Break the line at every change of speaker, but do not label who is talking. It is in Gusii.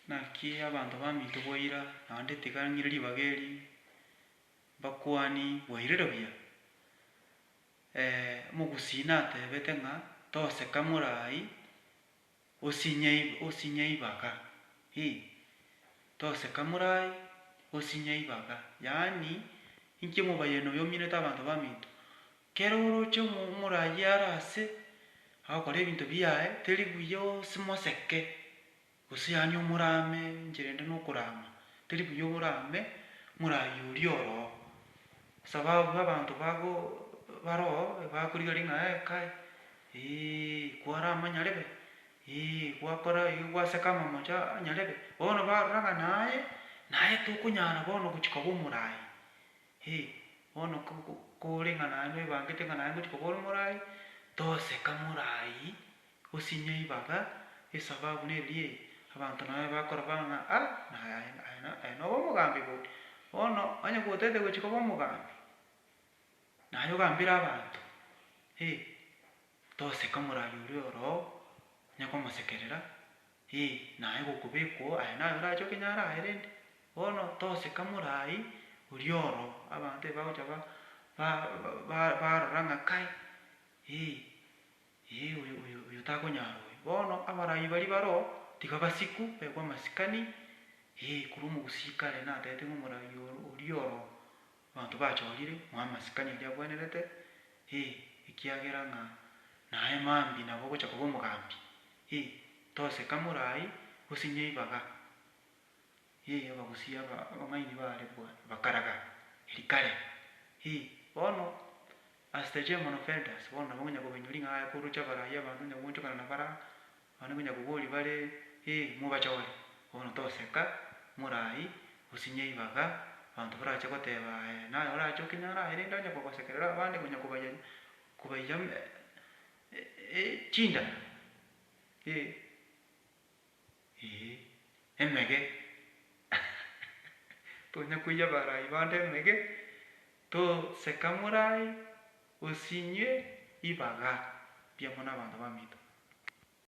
Naki abanto baminto bwaira, naende tiga ng'ire ribaga eri mbakwane bwairire buya. Omogusii natebete ng'a toseka morai osinye osinye eibaga, ii, toseka morai osinye eibaga, yaani inki omobayeeno oyo ominete abanto baminto, Kera oroche omoragia are ase agokora ebinto biaye, teri buya osimoseke, gose yaani omorame enchera ende nokorama, teri buya oborame moragia oria oroo, sababu abanto bago baroo bakorigereria ng'a ee kai eeh kwarama nyarebe, eeh gwakora iga gwaseka amamocho aa nyarebe, bono barora ng'a naye, naye tokonyara bono gochia koba omoraai, Hee, bono kore ng'a naye noibangete ng'a naye ngochika kore morai, toseka morai osinyia eibaga, esababu neri eye, abanto naye bakorora ng'a ah, naye aye aye noba omogambi bori. Bono onye gotete gochia koba omogambi, naye ogambere abanto, hee, toseka morai oria oroo, onye komosekerera. Ee, naye gokobekwa oo, aye naye orache okenyare aye rende. Bono toseka morai oria oro, abanto eba bagocha ba, ba, ba, barora ng'a kai, ee, ee oyo, oyo, oyo takonyara oyo. Bono abarai baria bare oo, tiga basikwe, baekwe amasikani, ee, korwa omogusii kare natete ng'a omorai oro, oria oro. Abanto bachorire ng'a amasikani aria abwenerete, ee, ekiagera ng'a naye mambia nabo ogocha koba omogambi, ee, toseka morai gose nyeibaga, ee, abagusii aba abang'aini baare bwa bakaraga eria kare, ee, bono as the German of elders, bono nabo ngonya kobainyoria ng'a aye koroche abarai abanto onye goonchokana na baraa. Abana konya koboria bare, Ee, mobachore? Bono toseka, morai, osinye eibaga, abanto barache goteba aye, naye orache okenyare aye rende onye kogosekerera abande konya kobayanya, kobaiya chinda, ee, ee, emege tonya koiyia barai bande emege, toseka morai, osinywe eibaga mbuya mono abanto bamito.